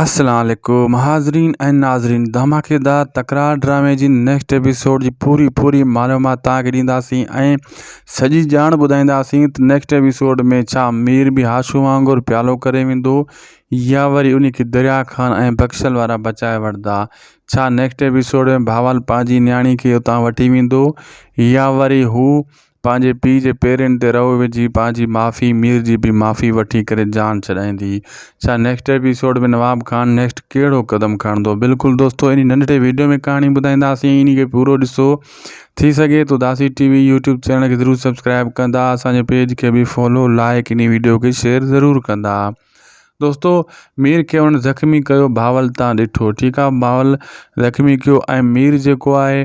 السلام عليڪم حاضرين ۽ ناظرين ڌماڪيدار تڪرار ڊرامي جي نيڪسٽ ايپيسوڊ جي پوري پوري معلومات تان کي ڏينداسين ۽ سڄي ڄاڻ ٻڌائينداسين ته نيڪسٽ ايپيسوڊ ۾ ڇا مير به هاشو وانگر پيالو ڪري ويندو يا وري انهي کي دريا خان ۽ بخشل وارا بچائي وٺدا ڇا نيڪسٽ ايپيسوڊ ۾ بهاول پنهنجي نياڻي کي اتان وٺي ويندو يا وري هو پنهنجي پيء جي پيرين تي رئو وجهي پنهنجي معافي مير جي به معافي وٺي ڪري جان ڇڏائيندي ڇا next episode ۾ Nawab Khan next ڪهڙو قدم کڻندو بلڪل دوستو انهي ننڍڙي ويڊيو ۾ ڪهاڻي ٻڌائينداسين انهي کي پورو ڏسو ٿي سگهي ٿو داسي ٽي وي يوٽيوب چينل کي ضرور سبسڪرائب ڪندا اسان جي پيج کي به فالو لائڪ انهي ويڊيو کي شيئر ضرور ڪندا دوستو مير کي انهن زخمي ڪيو باول تان ڏٺو ٺيڪ آهي باول زخمي ڪيو ۽ مير جيڪو آهي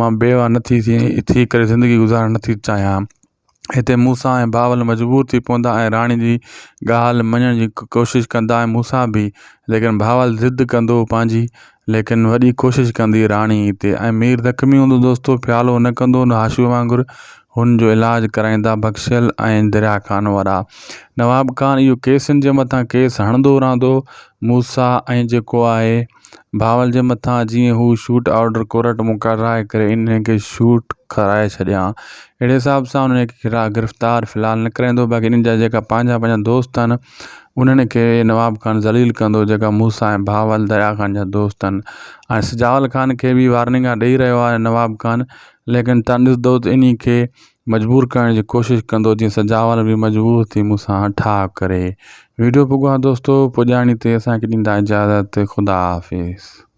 مان بيواه نه ٿي ٿي ڪري زندگي گذارڻ نه ٿي چاهيان هتي مون سان ۽ بهاول مجبور ٿي پوندا ۽ راڻي جي ڳالهه مڃڻ جي ڪوشش ڪندا ۽ مون سان به ليڪن بهاول ضد ڪندو پنهنجي ليڪن وڏي ڪوشش ڪندي راڻي تي ۽ مير زخمي هوندو دوستو ڦيالو نه ڪندو نه هاشمي وانگر هن جو علاج ڪرائيندا بخشيل ۽ دريا خان وارا. نواب خان اهو ڪيسن جي مٿان ڪيس هڻندو رهندو. موسيٰ ۽ جيڪو آهي بهاول جي مٿان جيئن هو شوٽ آرڊر ڪورٽ مون ڪڍرائي ڪري انهن کي شوٽ کرائي ڇڏيان. اهڙي حساب سان انهن کي گرفتار في الحال نه ڪرائيندو باقي انهن جا جيڪا پنهنجا پنهنجا دوست آهن انهن کي نواب خان ذليل ڪندو جيڪا موسيٰ ۽ بهاول دريا خان جا دوست آهن ۽ سجاول خان کي به وارننگا ڏئي رهيو آهي نواب خان ليڪن تانڏس دود انهي کي مجبور ڪرڻ جي ڪوشش ڪندو جيئن سجاول به مجبور ٿي مون سان ٺاهه ڪري ويڊيو پڳواهه دوستو پڄاڻي تي اسان کي ڏيندا اجازت خدا حافظ.